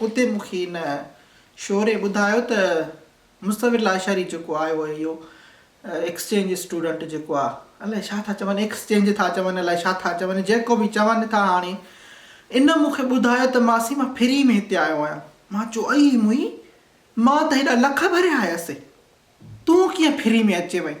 اتي مون کي هن شعوري ٻڌايو ته مصور لاشاري جيڪو آيو آهي اهو ايڪسچينج اسٽوڊنٽ جيڪو آهي الائي ڇا ٿا چون ايڪسچينج ٿا چون الائي ڇا ٿا چون جيڪو به چون ٿا هاڻي ان مون کي ٻڌايو ته ماسي مان فري ۾ هتي آيو آهيان مان چيو اي موئي مان ته هيڏا لک ڀريا آيس تون ڪيئن فري ۾ اچي وئين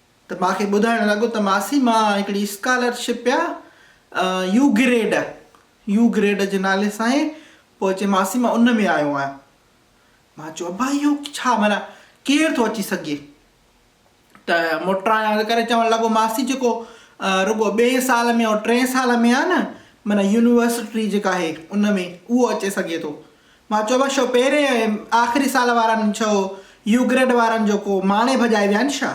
ته مان کي ٻڌائڻ لڳو ته ماسي مان هڪڙي اسڪالر شپ پيا يو گريڊ يو گريڊ جي نالي سان هي پوء چي ماسي مان ان ۾ آيو آهيان مان چيو ابا اهو ڇا معنيٰ ڪير ٿو اچي سگهي ته موٽرائڻ ڪري چوڻ لڳو ماسي جيڪو رڳو ٻئي سال ۾ ٽئين سال ۾ آهي نه معنيٰ يونيورسٽي جيڪا آهي ان ۾ اهو اچي سگهي ٿو مان چوبه شو پهرين ۽ آخري سال وارن ڇو يو گريڊ وارن جو ڪو ماڻي ڀڄائي ويان شا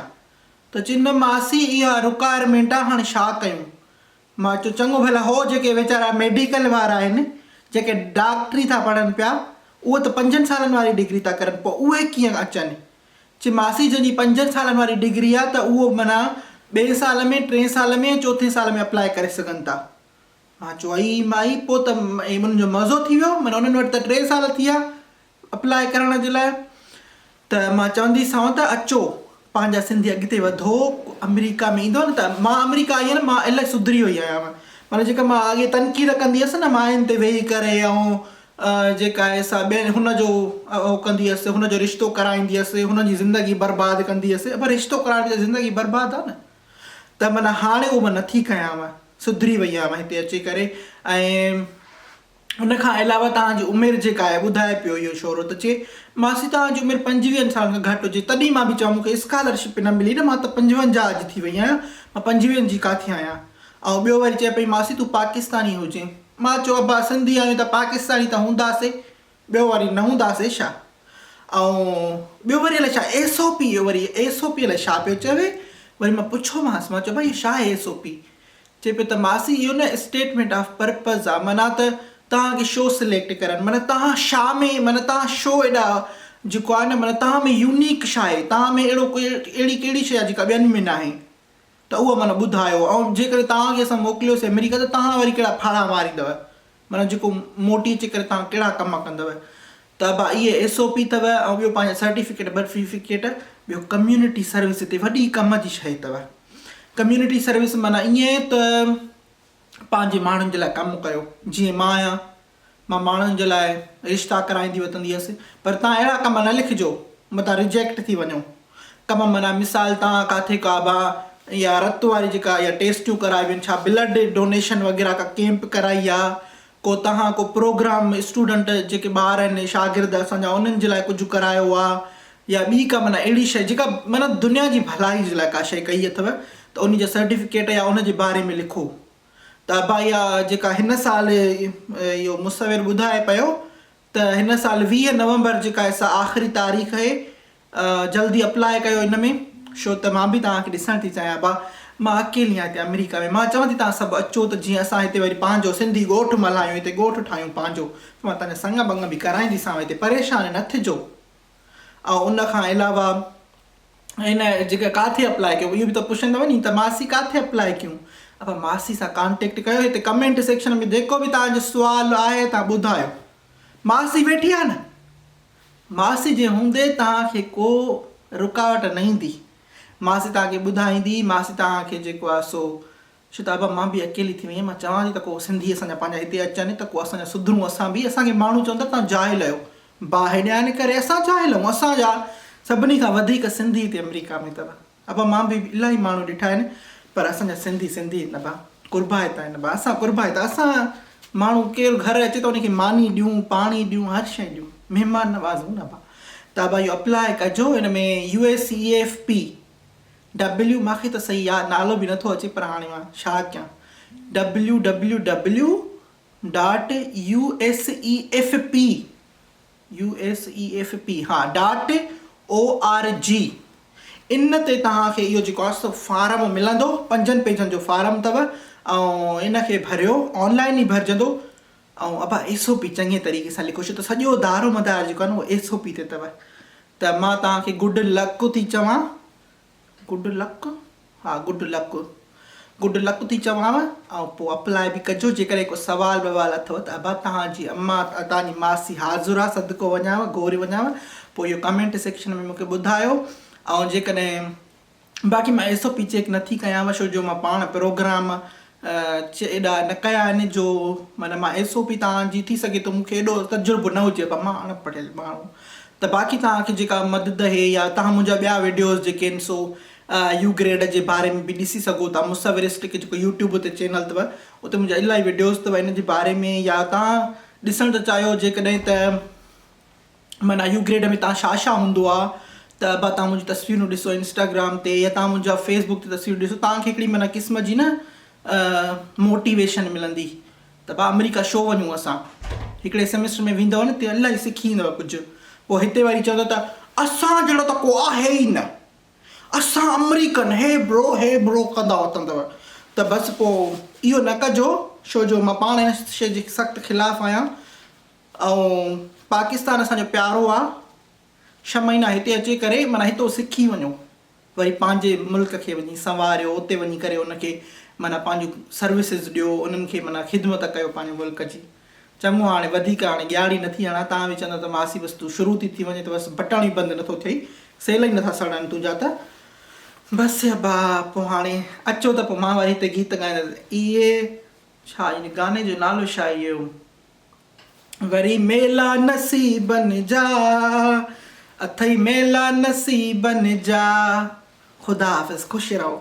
ته چنه ماسي اها رڪار مينٽا هاڻ شا ڪيون مان چو چڱو ڀلا هو جيڪي ويچارا ميڊيڪل وار آهن جيڪي ڊاڪٽري ٿا پڙهن پيا اهو ته پنجن سالن واري ڊگري ٿا ڪرن پو اهي ڪيئن اچن چي ماسي جنهن جي پنجن سالن واري ڊگري آ ته اهو معنيٰ ٻئي سال ۾ ٽئين سال ۾ ۽ چوٿين سال ۾ اپلائي ڪري سگهن ٿا مان چيو اي مائي پوء ته انهن جو معزو ٿي ويو معنيٰ انهن وٽ ته ٽي سال ٿي ويا اپلاء ڪرڻ جي لاء ته مان چونديسانو ته اچو پنهنجا سنڌي اڳتي وڌو آمريڪا ۾ ايندو نه ته مان آمريڪا آئي آهيان مان الاهي سڌري وئي آهيان معنيٰ جيڪا مان اڳي تنقيد ڪندي هيس نه ماين تي ويهي ڪري ۽ جيڪا آهي سا ٻين هن جو اهو ڪندي هيس هن جو رشتو ڪرائيندي هيس هن جي زندگي برباد ڪندي هيس پر رشتو ڪرائڻ سان زندگي برباد آهي نه ته معنيٰ هاڻي اهو مان نه ٿي ڪيانء، سڌري وئي آهيان هتي اچي ڪري ۽ ان کان علاوه توهان جي عمر جيڪا آهي ٻڌائي پيو اهو شورو ته چي ماسي توهان جي عمر پنجويهن سالن کان گهٽ هجي تڏهن مان به چيو مون کي اسڪالرشپ به نه ملي نه مان ته پنجونجاهه جي ٿي وئي آهيان مان پنجويهن جي ڪاٿي آهيان ۽ ٻيو وري چئي پئي ماسي تون پاڪستاني هجين مان چيو ابا سنڌي آهيون ته پاڪستاني ته هونداسي ٻيو وري نه هونداسي ڇا؟ ۽ ٻيو وري الائي ڇا ايس او پي اهو وري ايس او پي الائي ڇا پيو چوي وري مان پڇيومانس مان چيو ڀاء اهو ڇا آهي ايس او پي؟ چئي پيو ته ماسي اهو نه اسٽيٽمينٽ آف پرپز آ معنيٰ ته توهان کي شو سليڪٽ ڪرڻ معنيٰ توهان شا ۾ معنيٰ توهان شو ايڏا جيڪو آهي نه معنيٰ توهان ۾ يونيڪ ڇا آهي توهان ۾ اهڙو ڪوئي اهڙي ڪهڙي شي آهي جيڪا ٻين ۾ ناهي. ته اهو معنيٰ ٻڌايو ۽ جيڪڏهن توهان کي اسان موڪليوسين آمريڪا ته توهان وري ڪهڙا ڦاڙها ماريندؤ؟ معنيٰ جيڪو موٽي اچي ڪري توهان ڪهڙا ڪم ڪندؤ؟ ته ابا اهي ايس او پي اٿؤ ۽ ٻيو پنهنجا سرٽيفڪيٽ برٽيفڪيٽ ٻيو ڪميونٽي سروس هتي وڏي ڪم جي شيء اٿؤ ڪميونٽي سروس معنيٰ ائين ته پنهنجي ماڻهن جي لاء ڪم ڪيو جيئن مان آهيان مان ماڻهن جي لاء رشتا ڪرائيندي وتندي هيس پر تان اهڙا ڪم نه لکجو متان ريجيڪٽ ٿي وڃو ڪم معنيٰ مثال تان ڪاٿي ڪا با يا رت واري جيڪا يا ٽيسٽيون ڪرائي وين ڇا بلڊ ڊونيشن وغيره ڪا ڪيمپ ڪرائي يا ڪو تهان ڪو پروگرام اسٽوڊنٽ جيڪي ٻار آهن شاگرد اسان جا انهن جي لاء ڪجهه ڪرايو آ يا ٻي ڪا معنيٰ اهڙي شئي جيڪا معنيٰ دنيا جي ڀلائي جي لاء ڪا شئي ڪئي اٿو ته انهي جا سرٽيفڪيٽ يا ان جي باري ۾ لکو ته ابا اها جيڪا هن سال اهو مصور ٻڌائي پيو ته هن سال ويهه نومبر جيڪا سا آخري تاريخ اهي جلدي اپلاء ڪيو ان ۾ شو ته مان به توهان کي ڏسڻ ٿي چاهيان ابا مان اڪيلي آهيان هتي آمريڪا ۾ مان چوان ٿي توهان سڀ اچو ته جيئن اسان هتي وري پنهنجو سنڌي ڳوٺ ملهايون هتي ڳوٺ ٺاهيون پنهنجو مان توهان جا سڱ ٻڱ به ڪرائينديسانو هتي پريشان نه ٿجو. ۽ ان کان علاوه ان جيڪا ڪاٿي اپلاء ڪيو اهو به ته پڇندو ني ته ماسي ڪاٿي اپلاء ڪيون اپا ماسي سان ڪانٽيڪٽ ڪيو هتي ڪمينٽ سيڪشن ۾ جيڪو به توهان جو سوال آهي توهان ٻڌايو ماسي ويٺي آهي نه ماسي جي هوندي توهان کي ڪو رڪاوٽ نه ايندي ماسي توهان کي ٻڌائيندي ماسي توهان کي جيڪو آهي سو شتابه مان به اڪيلي ٿي ويئي مان چوان ٿي ته ڪو سنڌي اسان جا پنهنجا هتي اچن ته ڪو اسان جا سڌرون اسان به اسان کي ماڻهو چون ٿا توهان جاهل آهيو با هيڏيا ان ڪري اسان جاهل آهيون اسان جا سڀني کان وڌيڪ سنڌي هتي امريڪا ۾ اٿو ابا مان به الاهي ماڻهو ڏٺا آهن پر اسان جا سنڌي سنڌي آهن ابا قربائت آهن ابا اسان قربائت اسان ماڻهو ڪير گهر اچي ته ان کي ماني ڏيون پاڻي ڏيون هر شئي ڏيون مهمان نواز آهيون ابا ته ابا اهو اپلاء ڪجو ان ۾ U S E F P W مان کي ته صحيح ياد نالو به نٿو اچي پر هاڻي مان ڇا ڪيان W W W dot U S E F P U S E F P ها ڊاٽ او آر جي ان تي توهان کي اهو جيڪو آسو فارم ملندو پنجن پيجن جو فارم اٿو ۽ ان کي ڀريو آن لائن ئي ڀرجندو آئون ابا ايس او پي چڱي طريقي سان لکيو ڇو ته سڄو دارو مدار جيڪو آهي نه اهو ايس او پي تي اٿو ته مان توهان کي گڊ لڪ ٿي چوان گڊ لڪ ها گڊ لڪ گڊ لڪ ٿي چوانو ۽ پوء اپلاء به ڪجو جيڪڏهن ڪو سوال بوال اٿو ته ابا توهان جي اما توهان جي ماسي حاضر آهي صدقو وڃانو گهوري وڃانو پوء اهو ڪمينٽ سيڪشن ۾ مونکي ٻڌايو ۽ جيڪڏهن باقي مان ايسو پي چيڪ نٿي ڪيانو شو جو مان پاڻ پروگرام چ ايڏا نه ڪيا آهن جو معنيٰ مان ايسو پي تان جي ٿي سگهي ٿو مون کي ايڏو تجربو نه هجي مان اڻ پڙهيل ماڻهو ته باقي تان کي جيڪا مدد هي يا تان منهنجا ٻيا ويڊيوز جيڪي آهن سو يو گريڊ جي باري ۾ به ڏسي سگهو ٿا مصورسٽڪ جيڪو يوٽيوب تي چينل اٿو اتي منهنجا الاهي ويڊيوز اٿو ان جي باري ۾ يا تان ڏسڻ ته چاهيو جيڪڏهن ته معنيٰ يو گريڊ ۾ تان شا شا هوندو آ ته ابا تان منهنجون تصويرون ڏسو انسٽاگرام تي يا تان منهنجا فيس بڪ تي تصويرون ڏسو تان کي هڪڙي معنيٰ قسم جي نه موٽيويشن ملندي ته ڀا امريڪا شو وڃون اسان هڪڙي سيمسٽر ۾ ويندؤ نه ته الاهي سکي ايندؤ ڪجهه پوء هتي وري چوندؤ ته اسان جهڙو ته ڪو آهي ئي نه اسان امريڪن هي برو هي برو ڪندا وتندؤ ته بس پوء اهو نه ڪجو شو جو مان پاڻ هن شي جي سخت خلاف آهيان ۽ پاڪستان اسان جو پيارو آ ڇهه مهينا هتي اچي ڪري معنيٰ هتو سکي وڃو وري پنهنجي ملڪ کي وڃي سنواريو اتي وڃي ڪري ان کي معنيٰ پنهنجون سروسز ڏيو انهن کي معنيٰ خدمت ڪيو پنهنجي ملڪ جي چڱو هاڻي وڌيڪ هاڻي ڳياڙي نه ٿي هڻان تان به چوندو ته ماسي بس تون شروع ٿي ٿي وڃي ته بس بٽڻ ئي بند نه ٿو ٿئي سيل ئي نه ٿا سڙن تنهنجا ته بس ابا پوء هاڻي اچو ته پوء مان وري هتي گيت ڳائيندس اهي ڇا يعني گاني جو نالو ڇا اهو. وري ميلا نصيبن جا، اٿئي ميلا نصيبن جا. خدا حافظ خوش رهو.